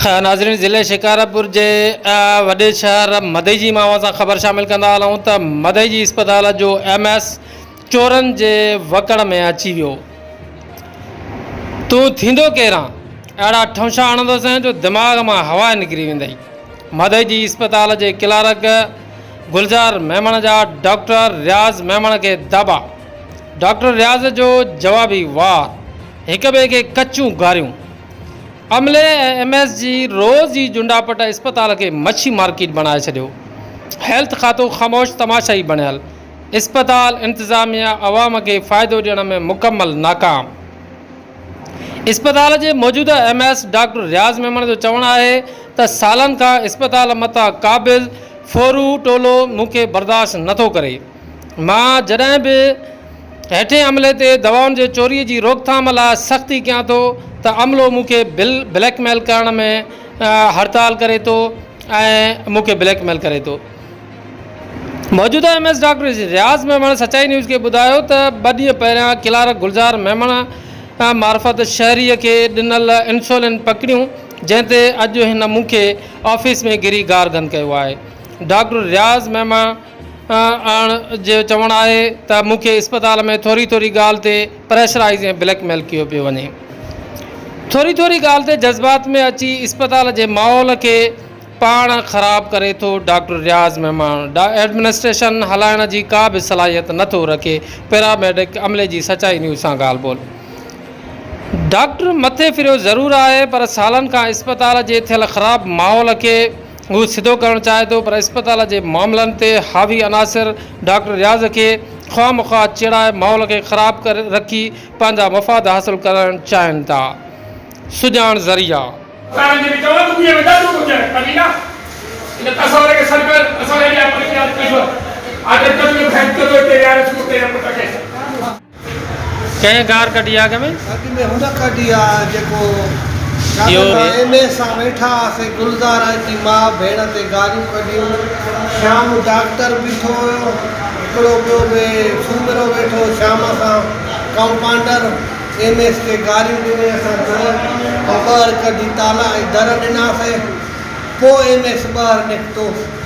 ناظرين ضلع شڪارپور جي وڏي شهر مدئي جي مان اوهان سان خبر شامل ڪندا هلون ته مدئي جي اسپتال جو ايم ايس چورن جي وڪڙ ۾ اچي ويو تون ٿيندو ڪيران اهڙا ٺونشا هڻندوسين جو دماغ مان هوا نڪري ويندئي مدئي جي اسپتال جي ڪلارڪ گلزار ميمڻ جا ڊاڪٽر رياض ميمڻ کي دبا ڊاڪٽر رياض جو جوابي وار هڪ ٻئي کي ڪچون گاريون عملي ۽ ايم ايس جي روز ئي جنڊاپٽ اسپتال کي مڇي مارڪيٽ بڻائي ڇڏيو، هيلٿ کاتو خاموش تماشائي بڻيل، اسپتال انتظاميا عوام کي فائدو ڏيڻ ۾ مڪمل ناڪام. اسپتال جي موجوده M S doctor Riaz Memon جو چوڻ آهي ته سالن کان اسپتال متان قابض ڦورو ٽولو مون کي برداشت نٿو ڪري، مان جڏهن به هيٺين عملي تي دوائن جي چوري جي روڪٿام لاء سختي ڪيان ٿو ته عملو مون کي بل بليڪ ميل ڪرڻ ۾ هڙتال ڪري ٿو ۽ مون کي بليڪ ميل ڪري ٿو. موجوده M S doctor Riaz Memon Sachai news کي ٻڌايو ته ٻه ڏينهن پهريان ڪلارڪ گلزار ميمڻ معرفت شهري کي ڏنل انسولين پڪڙيون جنهن تي اڄ هن مون کي آفيس ۾ گهري گار گند ڪيو آهي ڊاڪٽر رياض ميمڻ آهن جو چوڻ آهي ته مون کي اسپتال ۾ ٿوري ٿوري ڳالهه تي پريشرائيز ۽ بليڪ ميل ڪيو پيو وڃي. ٿوري ٿوري ڳالهه تي جذبات ۾ اچي اسپتال جي ماحول کي پاڻ خراب ڪري ٿو ڊاڪٽر رياض مهمان ايڊمنسٽريشن هلائڻ جي ڪا به صلاحيت نه ٿو رکي پيراميڊڪ عملي جي سچائي نيوز سان ڳالهه ٻولهه ڊاڪٽر مٿي ڦريو ضرور آهي پر سالن کان اسپتال جي ٿيل خراب ماحول کي هو سڌو ڪرڻ چاهي ٿو پر اسپتال جي معاملن تي حاوي عناصر ڊاڪٽر رياض کي خواهه مخواهه چيڙائي ماحول کي خراب ڪري رکي پنهنجا مفاد حاصل ڪرڻ چاهين ٿا سڄاڻ ذريعا. اسان جي جيڪي چوڻ ٻڌي ۽ ڏس ٻڌي آهي ڪڍي نه ان تصور کي سڏ ڪر اسان اهڙي اپريت يا تجرب آدرڪ جو ڀينت ڪندو هتي ويهاري ٿو اتي هن پٽ کي ڪنهن گار ڪڍي آ اڳ ۾. اڳ ۾ هن ڪڍي آ جيڪو شادي ۾ ايم اي سان ويٺا هئاسين گلزار اچي ماء ڀيڻ تي گاريون ڪڍيون شيام ڊاڪٽر بيٺو هيو هڪڙو ٻيو به سومرو ويٺو هو شيام سان ڪمپانڊر ايم ايس کي گاريون ڏني اسان در مان ٻهر ڪڍي تالا ۽ در ڏناسين پوء ايم ايس ٻهر نڪتو.